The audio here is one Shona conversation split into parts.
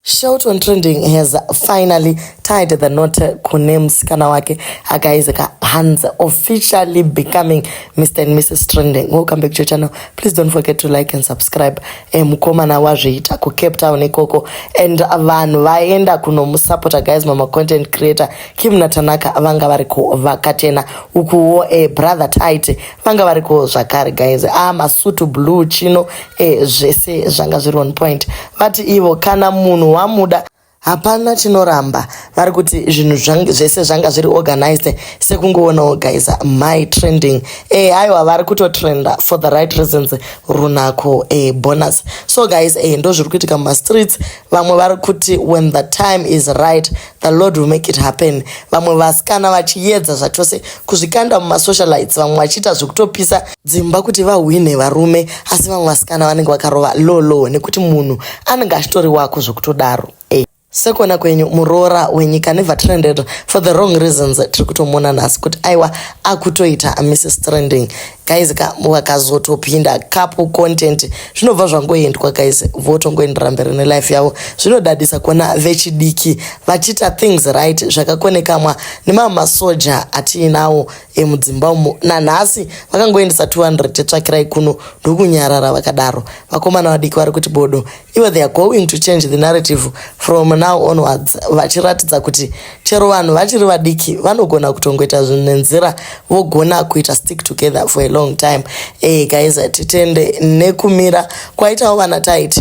Shout on trending has finally tied the knot kune musikana wake akaiza kahanzi officially becoming Mr and Mrs trending. Welcome back to your channel. Please don't forget to like and subscribe. Eh, mukomana wazviita ku Cape Town ikoko and vanhu vaenda kunomusapota guys mama content creator Kim Natanaka vanga vari kuvakatena ukuwo eh, brother tight vanga variko zvakare guys a ah, masutu blue chino e, zvese zvanga zviri on point vati ivo kana munhu wamuda hapana tinoramba vari kuti zvinhu zvese zvanga zviri organized sekungoonawo guys my trending e, aiwa vari kutotrenda for the right reasons runako e, bonus so guys e, ndo zviri kuitika mumastreets vamwe vari kuti when the time is right The Lord will make it happen. Vamwe vasikana vachiyedza zvachose kuzvikanda mumasocialites, vamwe vachiita zvekutopisa dzimba kuti vahwine varume, asi vamwe vasikana vanenge vakarova lolo nekuti munhu anenge achitori wako zvekutodaro. Hey. Eh, sekona kwenyu muroora wenyika never trended for the wrong reasons tiri kutomuona nhasi kuti aiwa akutoita mrs trending guys ka vakazotopinda couple content zvinobva zvangoendwa guys votongoendera mberi nelife yavo zvinodadisa kuona vechidiki vachiita things right zvakakonekamwa nemamwe masoja atiinawo emudzimba umo nanhasi vakangoendesa 200 tsvakirai kuno ndokunyarara vakadaro vakomana vadiki vari kuti bodo ivo they are going to change the narrative from now onwards vachiratidza kuti chero vanhu vachiri vadiki vanogona kutongoita zvinhu nenzira vogona kuita stick together for a long time e, guys titende nekumira kwaitawo vana tit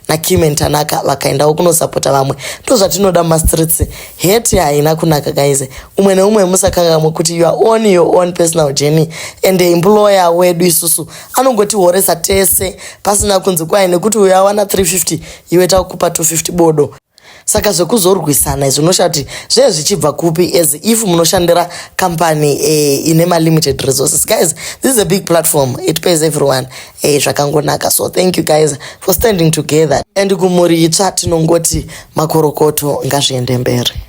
nakimen tanaka vakaendawo kunosapota vamwe ndo zvatinoda mumastreets heti haina kunaka guys umwe neumwe musakangamwe kuti your own your own personal journey and employer wedu isusu anongotihoresa tese pasina kunzi kwahi nekuti uyo awana 350 iwe takupa 250 bodo saka zvekuzorwisana izvi unoshaa kuti zvee zvichibva kupi as if munoshandira company eh, ine malimited resources guys this is a big platform it pays everyone eh, zvakangonaka so thank you guys for standing together and kumhuri itsva tinongoti makorokoto ngazviende mberi